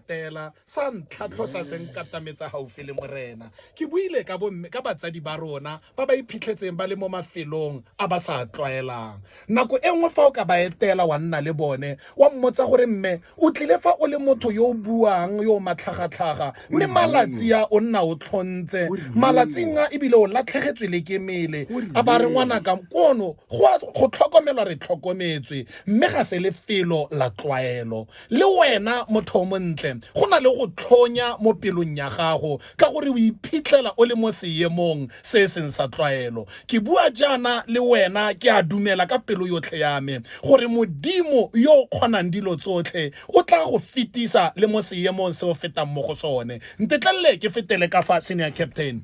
tela sa ntlhatlho sa se nkatametsa gaufi le morena ke buile ka bomme ka batsadi ba rona ba ba iphitlhetseng ba le mo mafelong a ba sa tlwaelang nako e nngwe fa o ka ba etela wa nna le bone wa mmotsa gore mme o tlile fa o le motho yo o buang yo o matlhagatlhaga mme malatsi a o nna o tlhontse malatsing a ebile o latlhegetswe le ke mele a ba re ngwanaka kono go tlhokomelwa re tlhokometswe mme ga se lefelo la tlwaelo Le wena motho o montle, go na le go tlhonya mo pelong ya gago ka gore o iphitlhela o le mo seemong se e seng sa tlwaelo. Ke bua jaana le wena, ke a dumela ka pelo yotlhe ya me gore Modimo yo o kgonang dilo tsotlhe o tla go fetisa le mo seemong se o fetang mo go sone. Ntetlelele ke fetele kafa, Senior Captain.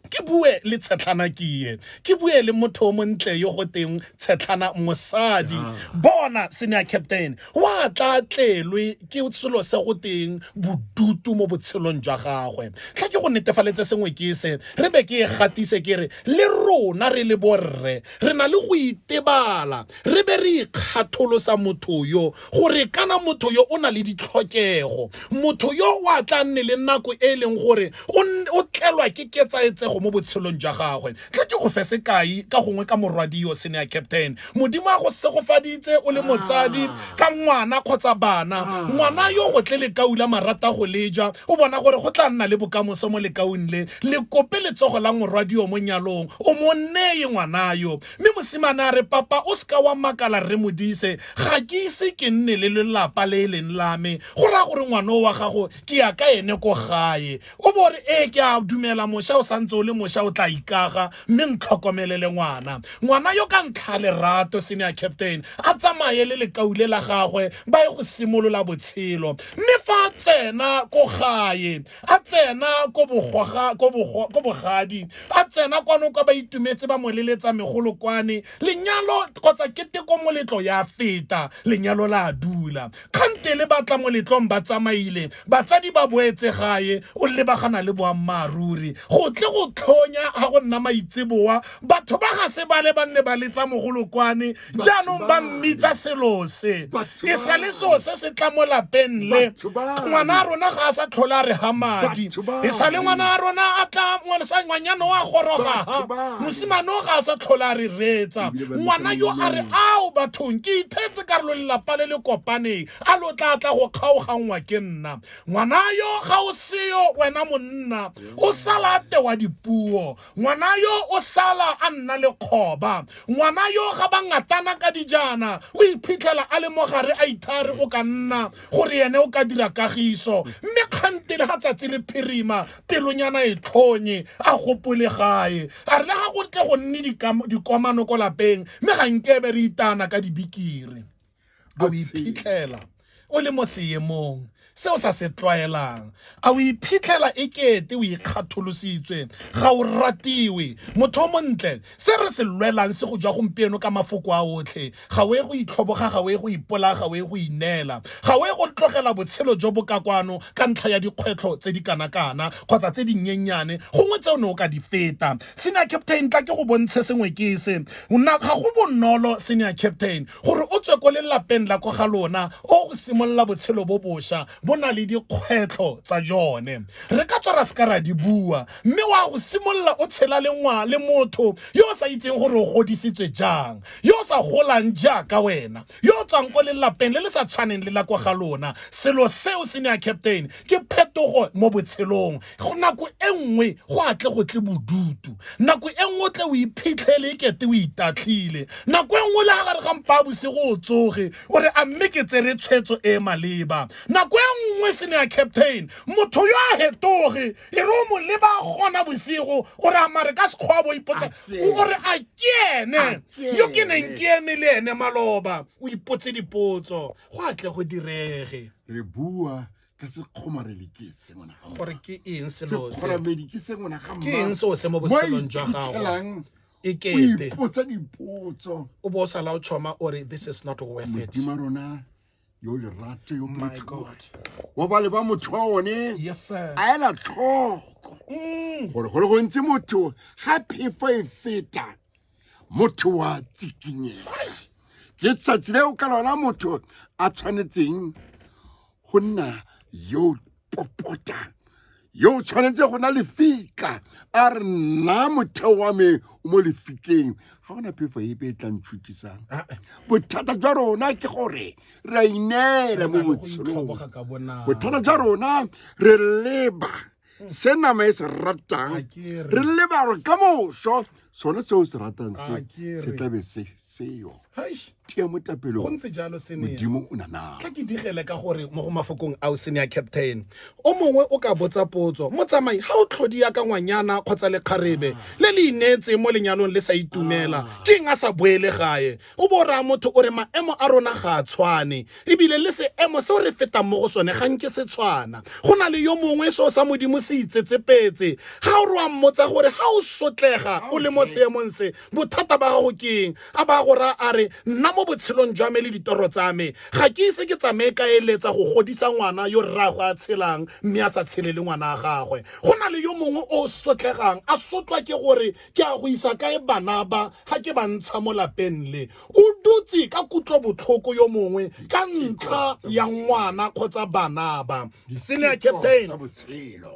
ke bue le tshetlhana kie ke bue le motho o montle yo go teng tshetlhana mosadi ah. bona senior captain wa tla tlelwe ke selo se go teng bodutu mo botshelong jwa gagwe tla ke go netefaletse sengwe ke se re be ke e gatise ke re le rona re le borre re na le go itebala re be re ikgatholosa motho yo gore kana motho yo o na le ditlhokego motho yo o a tla nne le nako e e leng gore o tlelwa ke ketsaetsego mo botshelong jwa gagwe tle ke go fe sekai ka gongwe ka morwadio sene ya captain modimo a go segofaditse o le ah. motsadi ka ngwana kgotsa bana ah. ngwana yo go tle lekau la marata go leja o bona gore go tla nna le bokamoso mo lekaung le le kope letsogo la morwadio mo nyalong o mo neye ngwana yo Mme mosimane a re, Papa, o se ka wa makala, Rre Modise, ga ke ise ke nne le lelapa le e leng la me, go raya gore ngwana o wa gago ke ya ka ene ko gae. O bo o re, Ee, ke a dumela, mosha o santse o le mosha, o tla ikaga, mme ntlhokomelele ngwana. Ngwana yo ka ntlha ya lerato, Senior Captain, a tsamaye le lekau le la gagwe, ba ye go simolola botshelo. Mme fa a tsena ko gae, a tsena ko bogading a tsena kwano kwa ba itumetse ba moleletsa megolo kwane lenyalo kgotsa keteko moletlo ya feta lenyalo la dula kgante le batla moletlong ba tsamaile batsadi ba boetse gae o lebagana le boammaaruri go tle go tlhonya ga go nna maitseboa batho ba ga se bale ba nne ba letsa mogolo kwane jaanong ba mmitsa selo se e sa le seo se se tla mo lapeng le ngwana a rona ga a sa tlhole a re ga madi e sa le ngwana a rona a tla ngwanyana o a gorogaga mosimane o ga a sa tlhole a re reetsa ngwana yo a re ao bathong ke ithetse karolo lelapa le le kopaneng a lo tla tla go kgaoganngwa ke nna ngwana yo ga o seyo wena monna o sala a tewa dipuo ngwana yo o sala a nna le kgoba ngwana yo ga ba ngatana ka dijana o iphitlhela a le mogare a ithare o ka nna gore ene o ka dira kagiso mme kgantele ga tsatsi le phirima pelonyana e tlhonye a gopole gae a re le ga go tle go nne dikomano ko lapeng mme ga nkebe re itana ka dibikiri a o iphitlhela o le mo seemong se o sa se tlwaelang a o iphitlhela e kete o ikgatholositswe ga o ratiwe motho o montle se re se lwelang se go jwa gompieno ka mafoko a otlhe ga o e go itlhoboga ga o e go ipola ga o e go ineela ga o e go tlogela botshelo jo bo ka kwano ka ntlha ya dikgwetlho tse di kana-kana kgotsa tse dinnyennyane gongwe tse o ne o ka di feta senior captain tla ke go bontshe sengwe ke se ga go bonolo senior captain gore o tswe ko lelapeng la ko ga lona o go simolola botshelo bo boša bo na le dikgwetlho tsa jone re ka tswa ra seka ra di bua mme wa go simolola o tshela le ngwa le motho yo o sa itseng gore o godisitswe jang yo o sa golang jaaka wena yo o tswang ko lelapeng le le sa tshwaneng le la ko ga lona selo seo senior captain ke phetogo mo botshelong go nako e nngwe go atle go tle bodutu nako e nngwe o tle o iphitlhele e kete o itatlhile nako e nngwe le ga gare ga mpa bosigo o tsoge o re a mme ke tsere tshwetso e e maleba nako e nngwe se ne ya captain motho yo a hetoge e re o mo leba gona bosigo o re amare ka sekgwa bo ipotsa o re a ke ene yo ke neng ke eme le ene maloba o ipotse dipotso go atle go direge re bua ka se kgomarele ke se ngwana ga gore ke eng selo se kgoramedi ke se ngwana ga ke eng seo se mo botshelong jwa gago mmaelang e kete ipotsa dipotso o bo o sala o choma o re this is not worth it modimo rona yo lerato yo my god wa ba le ba motho wa one yes sir a ela tlhoko gore gore go ntse motho ga phefo e feta motho wa tsikinyega ke tsatsi leo ka lona motho a tshwanetseng go nna yo popota yo o tshwanetse go na lefika a re nna motheo wa me o mo lefikeng ga gona phefo epe e tlang tshutisang ah, eh. bothata jwa rona ke gore re a ineela mo botshelong bothata jwa rona re leba se nama e se ratang re leba gore ka moso sone seo se ratang se se tlabe se seo tia mo tapelong gontse jalo senmodimo o nanaa ka ke digele ka gore mo go mafokong ao sene ya captain o mongwe o ka botsa potso motsamai ga o tlhodi ya ka ngwanyana kgotsa lekgarebe le le ineetseng mo lenyalong le sa itumela ah. ke eng a sa boele gae O bo raya motho o re maemo a rona ga a tshwane, ebile le seemo seo re fetang mo go sone ga nke se tshwana. Go na le yo mongwe seo sa Modimo se itsetsepetse. Ga o re wa mmotsa gore ga o sotlega o le mo seemong se, bothata ba gago ke eng, a ba a go raya a re, Nna mo botshelong jwa me le ditoro tsa me, ga ke ise ke tsamaye ka eletsa go godisa ngwana yo rraagwe a tshelang mme a sa tshele le ngwana wa gagwe. Go na le yo mongwe o sotlegang, a sotlwa ke gore ke a go isa kae bana ba ga ke ba ntsha mo lapeng le o dutse ka kutlo botlhoko yo mongwe ka ntlha ya ngwana kgotsa bana ba senior captain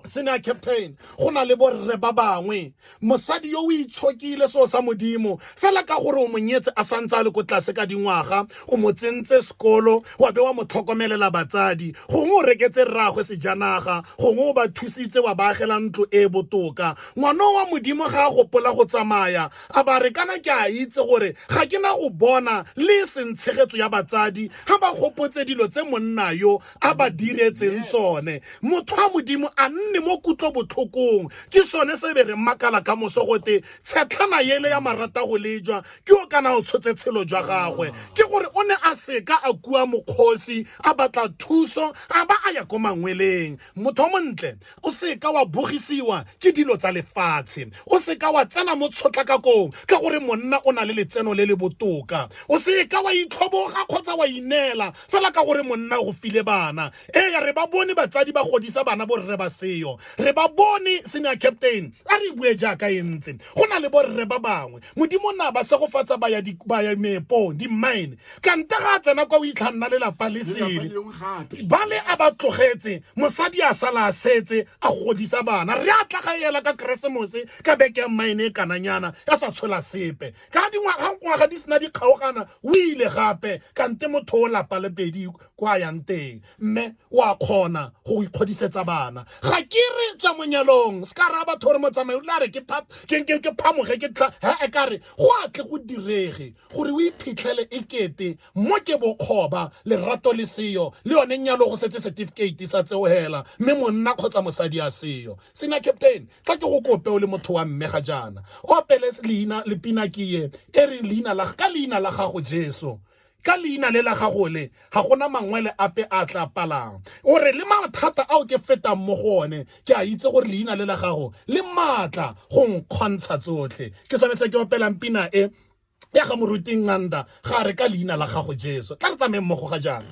senior captain go na le borre ba bangwe mosadi yo o itshokile seo sa modimo fela ka gore o monyetse a santse a le ko tlase ka dingwaga o mo tsentse sekolo wa be wa mo tlhokomelela batsadi gongwe o reketse rraagwe sejanaga gongwe o ba thusitse wa baagela ntlo e e botoka Ngwana wa Modimo ga a gopola go tsamaya, a ba re kana ke a itse gore ga ke na go bona le e seng tshegetso ya batsadi ga ba gopotse dilo tse monna yo a ba diretseng tsone. Motho wa Modimo a nne mo kutlobotlhokong. Ke sone se be re makala ka moso gote tshetlhana yele ya maratagolejwa ke yo kana o tshotse tshelo jwa gagwe. Ke gore o ne a seka a kua mokgosi a batla thuso a ba a ya ko mangweleng. motho o montle o seka wa bogisiwa ke dilo tsa lefatshe o seka wa tsena mo tshotlakakong ka gore monna o na le letseno le le botoka o seka wa itlhoboga kgotsa wa ineela fela ka gore monna o file bana ee re ba bone batsadi ba godisa bana borre ba seyo re ba bone senior captain a re bue jaaka e ntse go na le borre ba bangwe modimo na ba segofatsa ba ya meepong di-mine kante ga a tsena kwa o itlha nna lelapa le sele ba le a ba tlogetse mosadi a sala a setse a godisa bana re a tla ga ela ka keresemose ka beke ya mmaene e kananyana ya sa tshola sepe ka dingwaga di sena di kgaogana o ile gape kante motho o lapa le pedi kwa yang teng mme o a kgona go ikgodisetsa bana ga ke re tswa monyalong se ka raya batho gore motsamai o tla re ke phamoge ke tla he e ka re go a tle go direge Gore o iphitlhele e kete mo ke bokgoba, lerato le seyo, le yone nyalo go setse setifikeiti sa tseo hela, mme monna kgotsa mosadi a seyo. Senior Captain, tla ke go kope o le motho wa mme ga jaana, o opele leina le pina ke ye e reng leina la, ka leina la gago Jesu, ka leina le la gago le, ga go na mangwele ape a a tla palang. O re le mathata ao ke fetang mo go one, ke a itse gore leina le la gago le maatla go nkgontsha tsotlhe. Ke sone se ke opelang pina e. ya ga moruti Nqanda ga re ka leina la gago Jesu tla re tsameng mmogo ga jaana